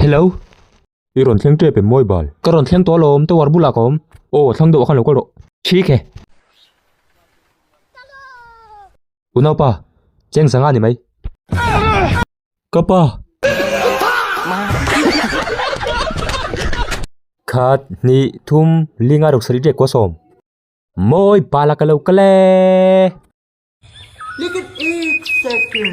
Hello. I rawn thleng tep em mawi bal? Ka rawn thleng tawh alawm, tower bulah ka awm. Aw, thlang deuh a khan lo kal rawh. Thik e. U naupa, cheng sangha ni mai. Ka pa. Khat, hnih, thum, li ngai ruksarih teh kua sawm. Mawi bala ka lo kal e. Likit ik sekin.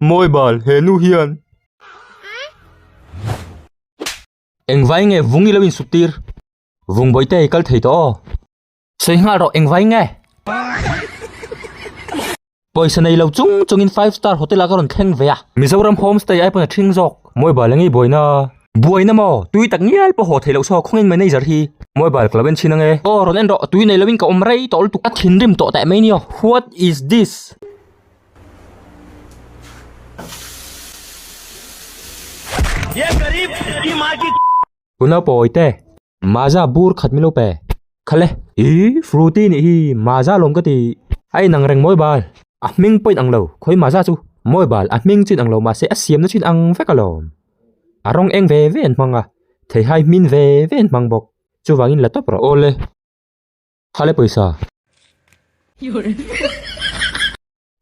Mawi bal, he nu hian. Engvai nge vung ilo insuk tir? Vung bawihte hei kal thei tawh aw. Sawi nghal rawh, engvai nge? Pawisa nei lo chung chungin five star hotel ah ka rawn thleng ve a. Mizoram home stay ai pawn a thing zawk. Mawi bal engei buaina a? Buaina maw? Tui tak ngial pawh haw thei loh saw khawngin manager hi. Mawi bal ka lo en thin ange. Aw rawn en rawh, tui nei loin ka awm rei tawh lutuk. A thinrim tawh teh mai ni aw. What is this? Tunlo pawi te maaza bur khat milo pe kha le. Ii fruity nih hi maaza lawm ka ti. A inang reng mawi bal a hming pawhin ang lo khawi maaza chu mawi bal a hming chin ang lo mahse a siamna chin ang vek alawm. A rawng eng ve ve an hmang a theihai hmin ve ve an hmang bawk chuvangin la tawp rawh. Awle. Khale pawisa.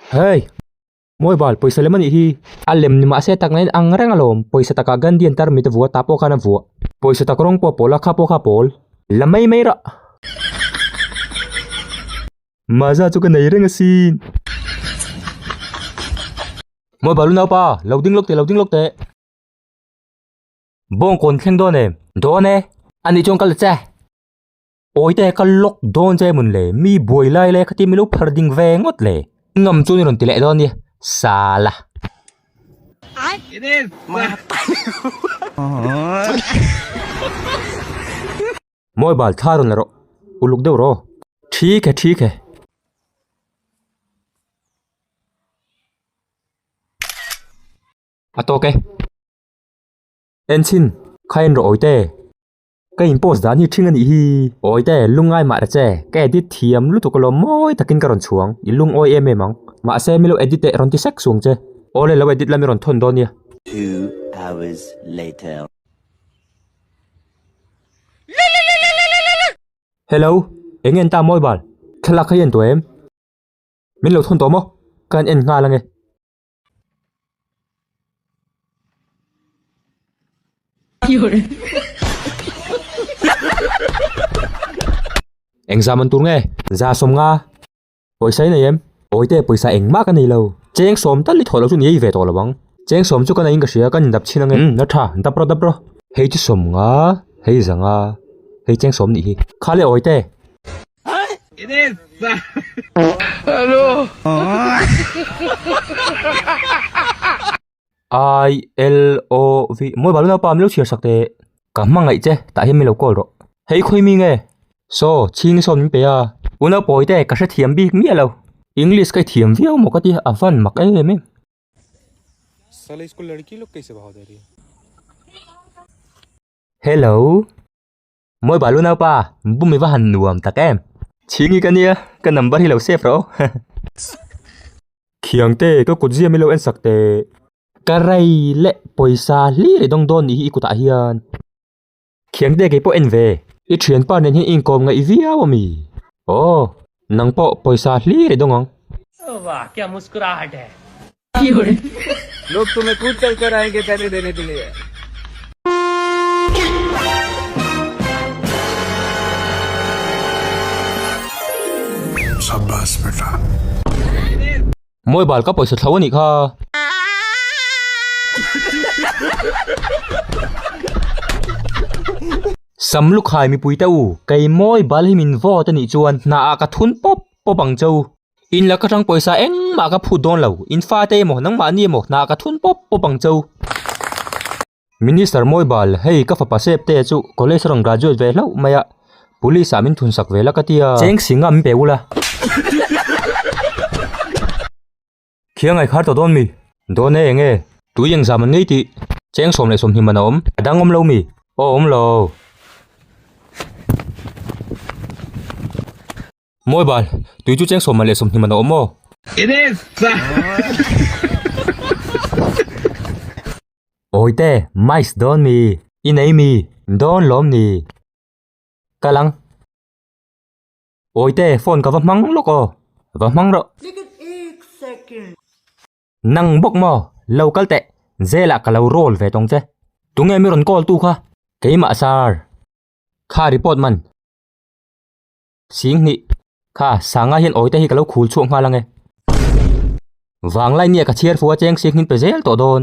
Hey! Mobile, pawisa lem a nih hi. A lem ni mahse takna in ang reng alawm. Pawisa takah Gandhi an tar mite vua, ta pawh khan a vuah. Pawisa tak rawng pawh a pawl a, kha pawh kha a pawl. La mai mai rah. Mahza chu ka nei reng asin. Mobile u naupa, lo ding lawk teh, lo ding lawk teh. Bawngkawn thleng dawn em? Dawn e. Anih chuan ka la che. Awite ka lock dawn che mun le, mi buai lai lai kha tia min lo phar ding ve ngawt le. Ngam chu ni rawn ti leh dawn nia, sala. Mawi bal thla rawn la rawh, uluk deuh raw. Thik e, thik e. A tawk e. Enchin, kha en rawh Awite. Ka in post dan hi ṭhing a nih hi. Awite, lungngai mah reh che, ka edit thiam lutuk alawm mawi takin ka rawn chhuang, i lungawi em em ang. Mahse milo edit teh rawn ti sek suang che. Awle lo edit la mi rawn thawn dawn nia. Two hours later. Hello, eng en ta mobile? Thlalak hi a en tawh em? Min lo thawn tawh maw? Ka han en nghal ange. Eng zam an tur nge? Za sawm nga. Pawisa i nei em? Awi te pawisa eng mah ka nei lo. Cheng sawm tal i thawh loh chu ni ei ve tawh lovang. Cheng sawm chu ka neiin ka hria, kan indap chin ange. Umm na tha, dap rawh dap rawh. Hei chu sawm nga, hei za nga. Hei cheng sawm nih hi. Kha le awi te. I L O V mawi bal napa milo chhiar sak teh ka hmangaih che tah hian milo call rawh hei khawi mi nge saw chhing sawn min peih a u naupawi te ka hre thiam bik miah lo english ka i thiam viau maw ka tia a van mak em em hello. Mawi balu naupa, bum i va han nuam tak em. Chhingi ka nia, ka number hi lo save rawh aw. Khiangte, ka kut ziam i lo en sak teh. Ka rei leh pawisa hlir i dawng dawn nih hi i kutah hian. Khiangte, kei pawh en ve. I thianpa nen hi inkawm ngaih viau a mi. Aw, nang pawh pawisa hlir i dawng ang. Vah, kya muskurahat hai. Mobile ka pawisa thlo a nih kha. Sam lukhai mipui te u, kei mobile hi min vote a nih chuan hnah ah ka thun pawp pawp ang chau. In la ka tang pawisa engmah ka phut dawn lo. In fate emaw, nangmahni emaw hna ka thun pawp pawp ang cho. Minister Mawibal, hei ka fapa Sep te chu college a rawn graduate ve hlauh mai a, Police ah min thun sak ve la ka ti a. Cheng si ngam in pe ula. Khi a ngaikhar tawh dawn mi? Dawn e, eng e? Tui engzam an ngei tih? Cheng sawm leh sawmhnim an awm. A dangawm lo mi? Awm lo. Mawi ban, tui chu cheng sawmman leh sawmhnim anawm maw? It is! Awite, mice dawn mi. I nei mi? Dawn lawm ni. Ka lang. Awite, phone ka va hmang lawk aw. Va hmang rawh. Make it eight seconds. Nang bawk maw? Lo kal teh. Zela ka lo roll ve tawng che. Tunge mi rawn call tu kha? Keimah sir. Kha report man. Sing hnih. Kha, sangai hian awite hi ka lo khul chhuak nghal ang e. Vanglai nia ka chhiar fu a cheng sik hnin pe zel tawh dawn.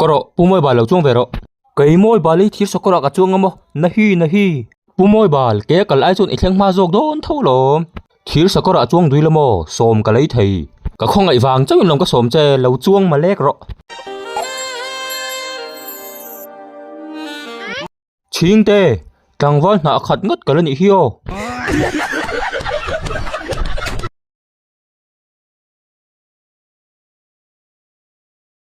Ka rawh, Pu Mawibal lo chuang ve rawh. Kei Mawibal hi thirsawh kawrah ka chuang a maw? Nahi, nahi. Pu Mawibal, kei a kal ai chuan i thleng hma zawk dawn tho alawm. Thirsawh kawrah chuang dui la maw? Sawm ka lei thei. Ka khawngaih vang chauhin lawm ka sawm che, lo chuang ma lek rawh. Chhingte, tlangval hnah a khat ngat ka la nih hi aw.